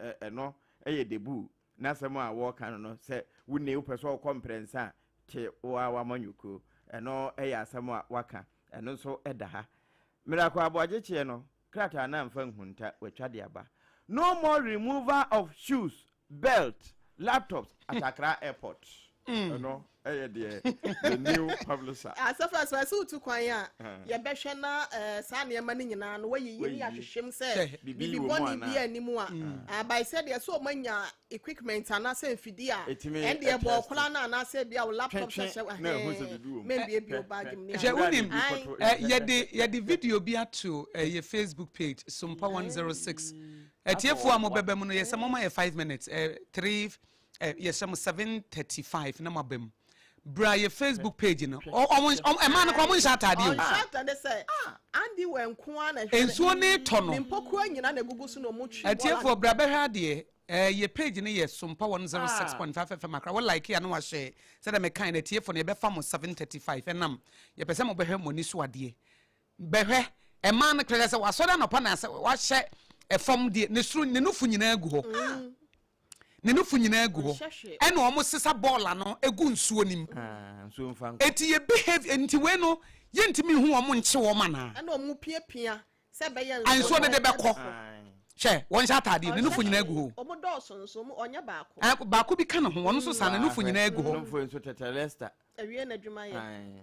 Ɛ, ɛno yɛ debuu. N'asɛm a wɔreka no no, sɛ wunni, wopɛ sɛ ɔkɔ mprɛnsa a, te wo ara w'amanyɔkuo. Ɛno yɛ asɛm a waka. Ɛno nso da ha. Miracle Aboagyekyeɛ no, krataa no amfa nhunta, watwa de aba. No more removal of shoes, belt, laptops at Accra Airport. Ɛno Ɛyɛ deɛ the new publisher. Asafo asafo ɛsɛ wotu kwan a yɛbɛhwɛ na saa nneɛma no nyinaa no wɔyiyi ne yɛahwehwem sɛ bibi bɔne bi ani mu a abae sɛ deɛ sɛ ɔmanya equipment anaasɛ mfidie a ɛndeɛ bɔ ɔkora no anaasɛ ebi a wo laptop sɛ hyɛ ahɛɛ mɛmbie bio baage mu ne adeɛ. Hyɛ wonim yɛde yɛde video bi ato ɛyɛ Facebook page Sumpa 106 atiefoɔ a mobɛba mu no yɛsɛ momma yɛ five minutes three eh, yɛ sɛ mo seven thirty five na mo aba mu bra yɛ facebook page no ɔmo ɔmo ɛmaa no kɔ ɔmo nhyɛ ataadeɛ o. ɔnhyɛ ataadeɛ sɛ ah, andi wɔ nko ara na ɛhwɛ no nsuo ne tɔ no ne mpokua nyina na egugu so na ɔmo twi bɔɔla atiefo bra bɛhwɛ adeɛ ɛɛ eh, yɛ page no yɛ sompa one zero six ah. point five fm akora wɔ like yɛ ano wahyɛ sɛdeɛ mɛkan na atiefo no yɛbɛfa mo seven thirty five ɛnam yɛpɛ sɛ mo bɛhwɛ mo ani so adeɛ. Bɛhwɛ, ɛmaa no klerɛɛ sɛ wasɔre anɔpa na sɛ wahyɛ fam deɛ, ne soro, ne nofo nyinaa gu hɔ. Ne nofo nyinaa gu hɔ. Ɛna ɔmo sesa bɔɔl ano gu nsuo no mu. Eti yɛ behave, enti wei no, yɛntumi nhu wɔn nkye wɔn anaa? Ɛna ɔmo piapia sɛ ɛbɛyɛ nso. Nsuo no de bɛkɔ. Hwɛ, wɔnhyɛ ataadeɛ, ne nofo nyinaa gu hɔ o. Ɔmo dɔɔso nso, ɔmo, ɔnyɛ baako. Ɛɛ, baako bi ka ne ho, ɔno nso saa, ne nofo nyinaa gu hɔ. Nofo nso tɛtɛrɛsta. Awie n'adwuma yɛ. Ae.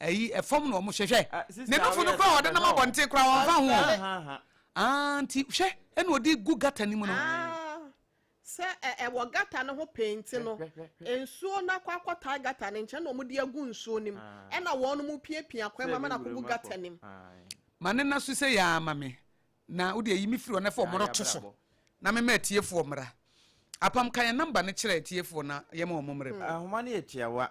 Ayi ɛfam na wɔn hyɛ hwɛ. Ah, sister, ne nofo no kura wɔde nam abɔnten kura wɔn fa ho. Ah, nti hwɛ ɛna ɔde gu gata ne mu no. Ah, sɛ ɛwɔ gata no ho penti no nsuo no akɔ akɔtaa gata no nkyɛn na wɔn de agu nsuo no mu ah. ɛna wɔn mu piapia kwan mu ama no akɔgu gata no mu. Ah. Ma ne na so sɛ yɛ ama me na wode ayi me firi wɔn afɔ wɔn to so na mema atiefoɔ mmara apam ka yɛn namba no kyerɛ atiefoɔ na yɛma wɔn mmerɛ mu. Ahoma no yɛ tiawa.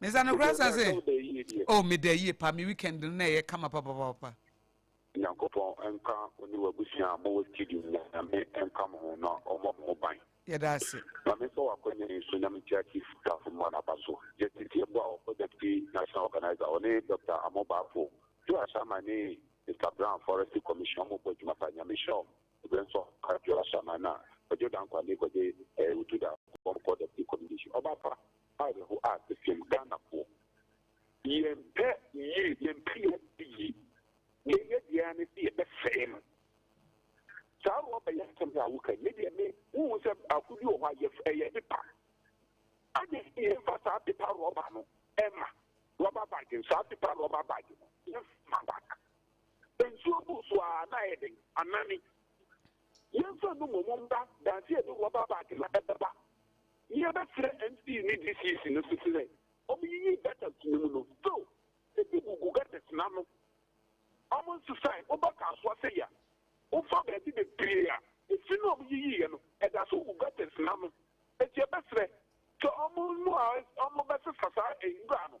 mesa no kora sa se oh meda yie pa me weekend no na ɛyɛ kama papapapa nyankopɔn nka ɔne wabusua a mowɔ studio nyame nka mo ho na ɔmmɔ mo ho ban yɛda ase ma me sɛ wakɔnya yi so nyame tia chief tafo ma naba so justice yɛbɔ a ɔkɔ deputy national organizer ɔne dr amo baafo jo asama ne mr brown forest commission ɔmo bɔ adwuma pa nyame hyɛ ɔmo ɛbɛ nso ka jo asama na ɔjo dankwa ne kɔgye ɛɛ wotu da kɔmkɔ deputy commission ɔba pa Awerɛho a ɛsɛm Ghanafoɔ. Yɛmpɛ yie, yɛmpɛ yɛn ade yie. Deɛ yɛyɛ biara ne sɛ yɛbɛsɛe no. Saa rɔba yi asɛm yi a woka yi, me deɛ me, wohu sɛ baako bi wɔ hɔ a yɛ, ɛyɛ pepa. Ade sɛ yɛmfa saa pepa rɔba no ɛma rɔba bag no, saa pepa rɔba bag no, yɛmfa ma bag. Nsuo gu so a na ayɛ den, anane. Yɛmfa no mmom mma dase a ɛde rɔba baage ma ɛbɛba ne yɛbɛsrɛ MC ne DCC no so sɛ wɔnyiyi gutters no mu no. Still, ebi gugu gutters no ano. Wɔnsesae. Woba Kasoa sɛ yɛ a, wofa baabi bebree a, efi no a wɔyiyiiɛ no, ɛda so gu gutters no ano. Enti yɛbɛsrɛ sɛ wɔn a wɔbɛsesa saa nwura no,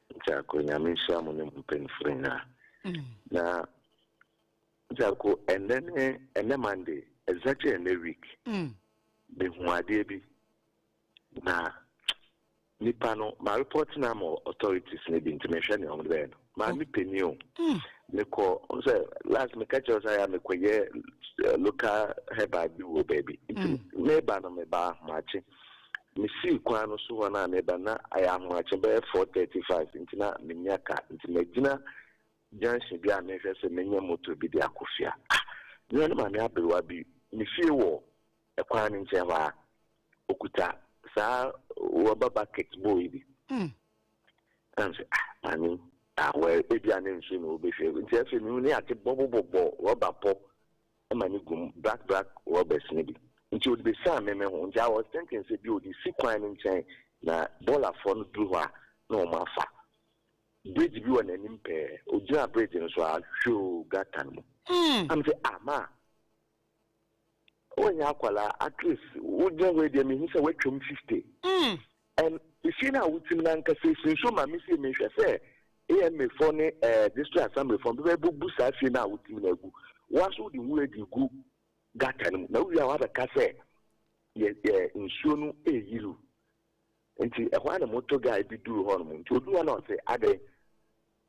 Nkyako, Nyame nhyira mo ne mo mpanyinfoɔ nyinaa. Na Nkyako, ɛnɛ ne ɛnɛ Monday, exactly ɛnɛ week, mehu mm. adeɛ bi na nipa no ma report na ama authorities no bi nti mehwɛ nea wɔn bɛyɛ no maa mi panyin o mm. mekɔ sɛ last meka kyerɛ sɛ ya mekɔyɛ eh, local herbal bi wɔ baabi nti mm. meba no meba ahomakye Misii kwan no so hɔ no a mereba no, na ayɛ ahomakye bɛyɛ four thirty five nti na minnya ka nti magyina junction bi a merehwɛ sɛ menya motor bi de akɔ fie a, ah! Mia ne maame aberewa bi ne fie wɔ kwan no nkyɛn hɔ a okuta saa rɔba bucket bowl yi bi. Mm. Na mese, ah, maame yi, ah, well, ebia ne nsu na obehwɛ. Nti afei mehu ne ade bɔbɔbɔbɔ rɔba pɔ. ma no gu mu, black black rubbers no bi, nti ɔde bɛsiane me me ho, nti I was thinking sɛ bi a ɔde si kwan no nkyɛn na bɔɔlafoɔ no duru hɔ a na wɔn afa bridge bi wɔ n'anim pɛɛ, ɔgyina bridge no so a hwoo gutter no mu, na me sɛ ah ma wonyɛ akwalaa at least wogyina hɔ yi deɛ mehu sɛ woatwam 50. Ɛn, efie no a wotsim no ankasa esi nsu ma me fie. Mehwɛ sɛ AMA fɔ ne ɛɛ District Assembly fɔ no bɛba ebobu saa fie no a wotsim no agu. Woara so wode nwura dze gu gutter no mu na wowie a wɔabɛka sɛ yɛ yɛ nsuo no eyiriw. Ntsi ɛhɔ ara na motor guy bi dur hɔnom. Ntsi odur hɔ na ɔse adɛn?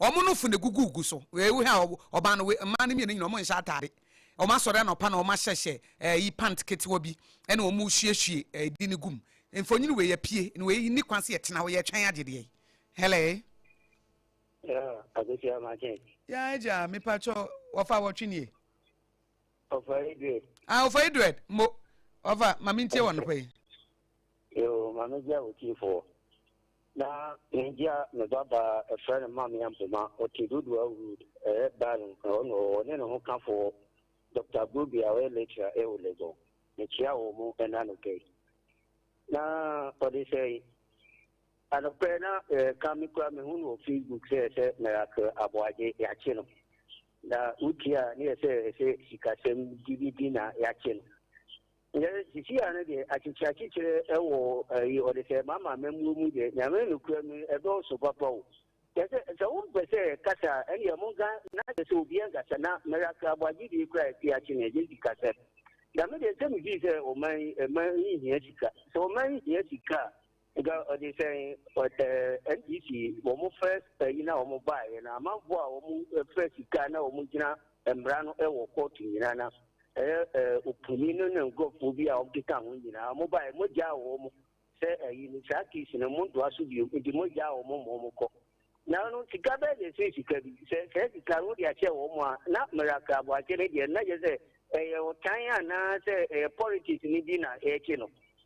wɔn no fo na egugu gu so. Wei wohwɛ a ɔbaa no wei mmaa no mmienu nyinaa wɔn nhyɛ ataade. Wɔn asɔre anɔpa na wɔn ahyehyɛ ɛyi pant ketewa bi ɛna wɔn resuasue ɛdi no gum. Mfonyin wei apue na wei nni kwan sɛ yɛtena hɔ yɛtwɛn agye deɛ. Hello. Yeah, akosia ma kyɛn. Yeah, agya mipa kyɛ wɔfa wɔtwe nie. Ɔfa Edred. Ah, ɔfa Edred mo ɔfa maame ntie wɔn no pɛ. Yoo, maame gya wɔ tie fo. Na Hindia no babaa ɛfrɛ no Mamia Mpoma, ɔte Dodowa Road, ɛyɛ Baron, ɛhɔ na ɔwɔ, ɔne ne ho kafoɔ Doctor Bobi a ɔyɛ lecturer ɛwɔ Legon. Mekyia wɔn ɛna anɔpɛ yi. Na ɔde sɛn? Anɔpɛ na ɛka me kura mehu no wɔ Facebook sɛ sɛ Miracle Aboagye yɛakye no. Na wotie a ne yɛ sɛ ɛsɛ sikasɛm dididi na yɛakye no. Ndɛ sisi ano deɛ akyekye akyekyerɛ ɛwɔ ɛyi ɔde sɛ ɛma ama amammuo mu deɛ nyame nokura mu ɛdɔɔso papa o kyɛsɛ sɛ wo mpɛ sɛ kasa ɛneɛ mo nka na kyɛ sɛ obi ɛnkasa na mɛra kra bɔ agyedie kura ɛte akye ne ɛgye sika sɛ dame deɛ sɛ mefii sɛ ɔman yi ɛman yi hia sika sɛ ɔman yi hia sika a Nka ɔde sɛn ɔdɛ NDC wɔn fɛ ɛyi na wɔn ba yɛ na amanfo a wɔn fɛ sika na wɔn gyina mmara no ɛwɔ kɔɔto nyinaa na ɛyɛ ɛɛ opuni no ne nkurɔfoɔ bi a wɔn keka ho nyinaa wɔn ba yɛ mo gya wɔn sɛ ɛyi no saa kiisi no mo ntoa so bio nti mo gya wɔn mo wɔn kɔ na no sika bɛɛ de ɛsɛ sika bi sɛ sɛ sika no de ahyɛ wɔn a na mmara kraabo akyɛ ne deɛ na yɛ sɛ ɛyɛ ɔtan anaa sɛ ɛyɛ politics ne bi na ɛrekye no.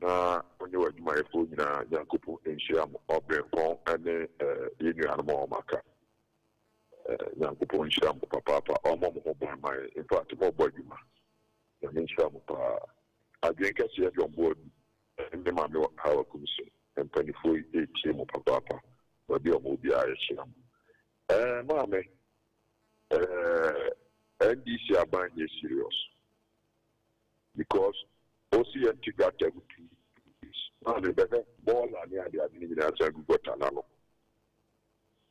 Na wonye w'adwumayɛfoɔ nyina Nyankopɔn nhyira mo ɔberempɔn ne yɛn nuanom a wɔaka. Nyankopɔn nhyira mo papaapa, ɔmmɔ mo ho ban ma yɛn. Infact mobɔ adwuma. Nyame nhyira mo paa. Adwene kɛseɛ John Boadu ne ne maame wɔ Hawa Kumsum. Mpaninfoɔ yi retie mo papaapa. Baabi a wɔwɔ biara yɛhyira mo. Ɛɛ maame, ɛɛ NDC aban nyɛ serious. because ɔsi yɛn te gutter mu two days na ne bɛhwɛ bɔɔla ne ade ade no nyinaa san gu gutter no ano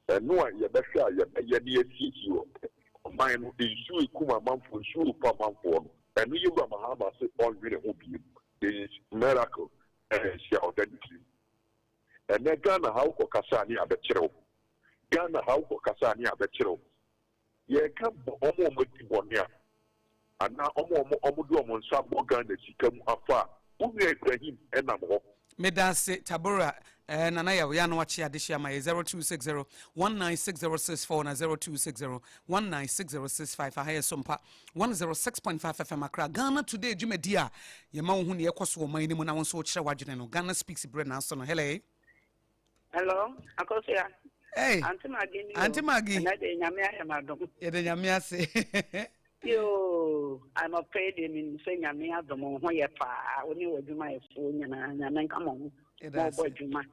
ɛno a yɛbɛhwɛ a yɛbɛyɛ ne yɛasiesie wɔ ɔman no nsuo ekum amanfoɔ nsuo repa amanfoɔ no ɛno yɛ wura mahama se ɔnwene ho biem is miracle ɛna ɛsi a ɔda ne tirim ɛnɛ Ghana ha wokɔ kasa ne abɛkyerɛw Ghana ha wokɔ kasa ne abɛkyerɛw Yɛreka bɔ wɔn a wɔadi bɔne a, anaa wɔn a wɔde wɔn nsa abɔ Ghana sika mu afa a, wo nua Ibrahim nam hɔ. Medase Tabora eh Nana Yaw ya no akye adesua ma yɛ 0260196064 na 0260196065 aha yɛ Sompa 106.5 FM Accra Ghana Today dwumadi a yɛma wo hu nea ɛkɔ so wɔ ɔman no mu na wo nso wokyerɛ w'adwene no Ghana Speaks berɛ na aso no Hele Hello, Akosua. Hey, Auntie Maggie ni o. Auntie Maggie. Ɛnna de nyame ayɛ ma dɔm. Yɛ de nyame ase. Yoo, I'm a paid in in sɛ nyame adɔm ho yɛ paa. Wo ne w'adwuma yɛ fo nyinaa nyame nka mo ho. Mo bɔ adwuma.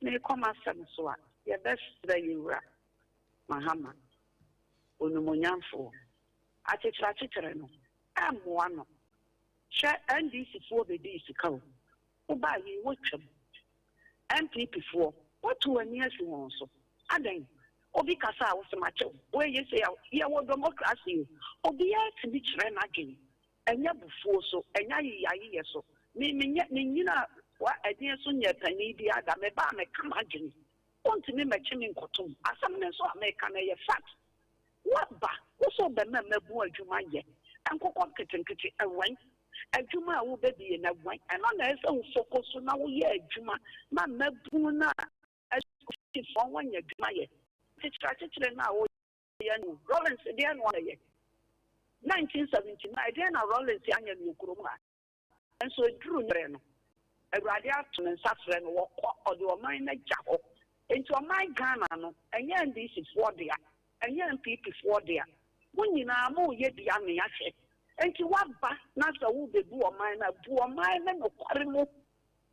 Me kɔ ma sɛm so a, yɛ bɛ srɛ yɛ wura. Mahama. Onumonyamfo. Akyekyere akyekyere no. Ɛmmoa no. Hwɛ NDC foɔ bɛ di sika o. Wobaa he wɔ twam. NPP foɔ, woatu w'ani asi ho so. Adɛn? Obi kasa a wose makyɛ wo. Woeye sei a, yɛwɔ dɔmokrase o. Obiaa tumi kyerɛ n'adwene. Ɛnyɛ abufuo so, ɛnyɛ ayeyayeyɛ so. Me menyɛ, menyinaa wa ɛdeɛn so nyɛɛ panin biaa da. Mebaa meka m'adwene. Wontumi mmɛkye me nkɔtom. Asɛm no nso a meka no ɛyɛ fact. Woaba, wo sɛ wobɛma mmabun adwuma yɛ, nkokɔ nketenkete, ɛwɛn. Adwuma a wobɛdi yɛ no ɛwɛn. Ɛno na ɛsɛ sɛ wo foko so na woyɛ adwuma ma mmabun no a ɛso hye so wɔn anya adwuma yɛ. Kyekyere akyekyere no a woyɛ no, Rawlings deɛn na wayɛ? 1979, ɛdeɛn na Rawlings anyɛ no wɔ kurom ha? Nanso eduruu ne bere no, Awurade ato ne nsa frɛ no, wɔkɔ, ɔde ɔman no agya hɔ. Enti ɔman Ghana no, ɛnyɛ NDC foɔ dea, ɛnyɛ NPP foɔ dea, mo nyinaa moreyɛ bi amea hwɛ. Enti woaba na sɛ worebɛbu ɔman no a, bu ɔman no nokware mu.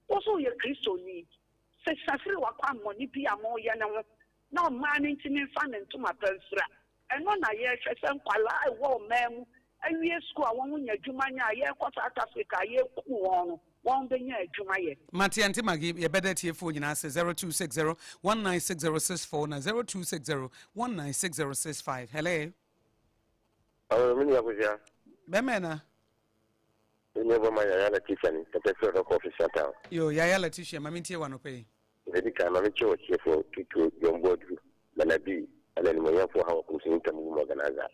Wo nso woyɛ Kristoni, sesa firi w'akwammɔne bi a moreyɛ no ho na ɔmaa no ntini mfa ne ntoma pa mfira. Ɛno na yɛrehwɛ sɛ nkwadaa a ɛwɔ ɔman mu awie sukuu a wɔn nya adwuma nyɛ a yɛrekɔ South Africa a yɛrekum wɔn no wɔn bɛnya adwuma yɛ. Matiante Maggie, Yɛbɛda atiefoɔ nyinaa ase, zero two six zero one nine six zero six four na zero two six zero one nine six zero six five. Hello. Hello, me nua Kosia. Bɛmɛ na. Ɛnyɛ bɔ ma Yaya Letitia ni, ɛpɛ sɛ ɔdɔ kɔ official town. Yo, Yaya Letitia, ma me ntie wa nɔpɛ yi. Dza edi kan, ma menkyerɛ w'atsiefo, Tito, John Boadu, Bernardi, na Animuonyamfo Ɔhaw Nkomsonyi Ntamu Wom Organiser.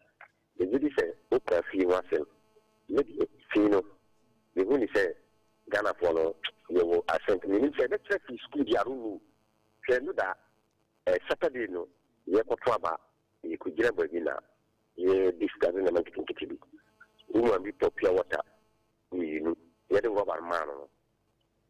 Megye dzi sɛ wokaa fi ho asɛm. Me de, fi no, mehu no sɛ Ghanafo no yɛwɔ asɛnka. Minnyim sɛ ebɛkyerɛ fi skuul bi, I don't know. Hwɛ no da eh, Saturday no, yɛkɔto aba, yekogyina baabi na yɛ discuss ndzɛmba nketsenketse bi. Wo maame bi tɔɔ pure water mmienu, yɛde rɔba no maa no no.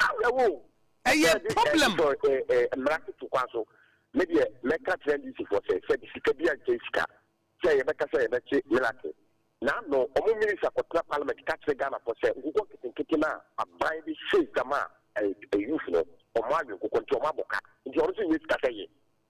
Awerɛhow! Ɛyɛ problem! Sɛ NDC sɔ ɛɛ mmara so to kwan so, me deɛ mɛka akyerɛ NDC foɔ sɛ, sɛ de sika biara nkyɛ sika sɛ yɛbɛka sɛ yɛbɛkye Millarton na ano wɔn minister kɔtena parliament ka kyerɛ Ghana foɔ sɛ nkokɔ nketenkete no a aban de hyɛ dwa maa ɛɛ youth no wɔn awe nkokɔ nti wɔn abɔ ka nti ɔno nso nyɛ sika sɛ yɛ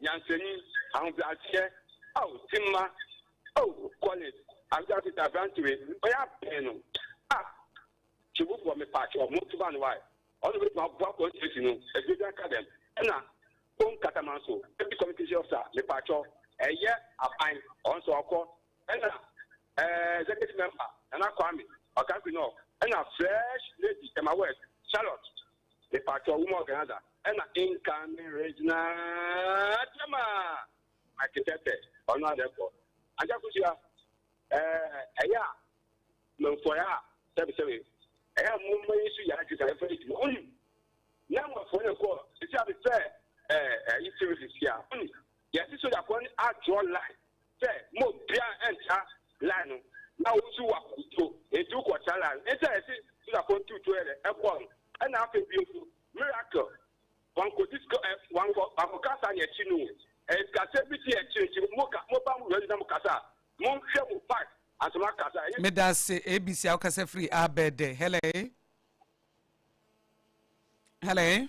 Nyansani, ahobrɛaseɛ, ao Timma, oh Collins, Ansa Peter aberante wei ɔyɛ aben no ah Sobofoɔ mepaakyɛw monto ba no wae ɔno obetumi aboa constituency no aduro bi aka dɛm ɛna Kpong Katamanso Deputy Communication Officer mepaakyɛw ɛyɛ aban ɔnso ɔkɔ ɛna eh Executive Member Nana Kwame Ɔkankwei North ɛna Fresh Lady Tema West Charlotte Mepakyɛw wo ma organizer ɛna incoming regional chairman Mike Tete ɔno adɛ kɔ agya kusua ɛɛ ɛyɛ a mɛnfɔyɛ a sɛbisɛbi ɛyɛ a mo mma yi so yɛ adwuma ɛfɛ yi dwuma ɔnim na mmɔfra yɛ kɔ sisi a befɛ ɛɛ ɛyi siri sisi a ɔnim Yɛse sogyafoɔ no a draw line sɛ ma obiara ntra line no na wo nso waku tuo enti wokɔ tra line no enti na yɛse sogyafoɔ no tu tuo yɛ dɛ ɛkɔ no ɛna afei bio nso miracle wankɔ disco ɛ wankɔ wankɔ kasa ne akyi no ɛyɛ sikasɛm bi ti akyi nti mo ka mo ba mo wura na mo kasa a mo nhwɛ mo part ansa mo akasa ɛyɛ. Meda ase ABC a wokasa firi abɛɛdɛ hello hello.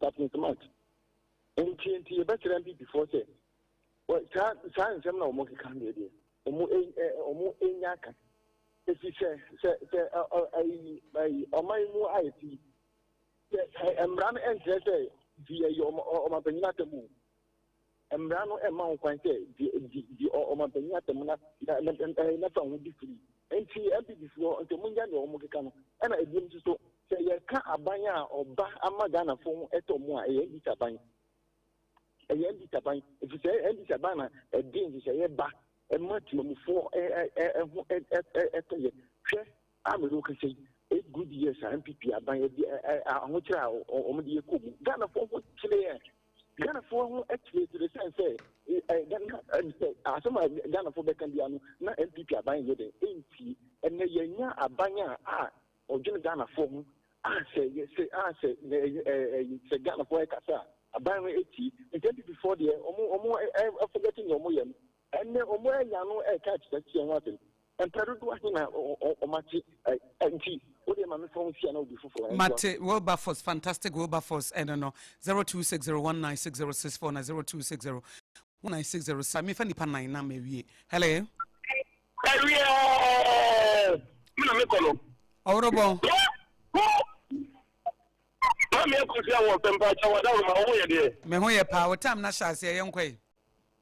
Captain Smart, Nti nti yɛbɛsrɛ Mpipifoɔ sɛ wɔ saa saa nsɛm na wɔn keka deɛ deɛ wɔn ɛ ɛ wɔn enya aka efi sɛ sɛ sɛ ɛ ɔ ayi ayi ɔman mu ayɛ ti sɛ ɛ mmara no nkyerɛ sɛ nti yɛyɛ wɔn wɔn apanyin atɛm o. Mmara no mma ho kwan sɛ di di ɔmanpanyin asɛm na na fa ho di firi. Enti MPPfoɔ nso mongyae deɛ wɔkeka no. Ɛna ebiom nso so, sɛ yɛka aban a ɔba ama Ghanafoɔ ho ɛtɔ mo a, ɛyɛ NDC aban. Ɛyɛ NDC aban. Ɛfiri sɛ NDC aban na ɛde nhyehyɛeɛ ba ɛma temamufoɔ ho ɛtɔyɛ. Hwɛ! a me ne wo kasa yi, eight good years a NPP aban adi ahokyerɛ a wɔn de yɛ kɔ mu. Ghanafoɔ ho kyerɛ Ghanafoɔ ho kyerɛkyerɛ sɛn sɛ Ghana sɛ asɛm a Ghanafoɔ bɛka bia no na NPP aban yɛ dɛ ɛntie. Ɛnɛ yɛnya aban a a ɔdwene Ghanafoɔ ho a sɛ sɛ a sɛ sɛ Ghanafoɔ ɛkasa a aban no ɛtie. Nti NPP foɔ deɛ wɔn wɔn ɛfɔgɛte nea wɔn yɛ no. Ɛnnɛ, wɔanya no reka akyinnyeɛ ho asɛm. Mpɛn dodoɔ ahe na wɔate nti wodeɛ ma memfa wo nsia na obi foforɔ ntoa so. Mate Wilberforce, fantastic Wilberforce ɛno no, 0260196064 na 02601960 mefa nipa nan na mawie. Hello. Ɛwiɛɛ me na mekɔ no. Ɔworobɔ. Maame akɔsi awɔ sɛ mpaakyɛ wɔ adaworo ma wo ho yɛ deɛ. Me ho yɛ paa, wo tam no ahyɛ aseɛ yɛnkɔe.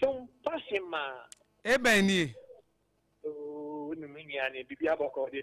Som pa hemaa. Ebɛn nie? Ooh, wo ne me nua ne bibi abɔkɔ deɛ.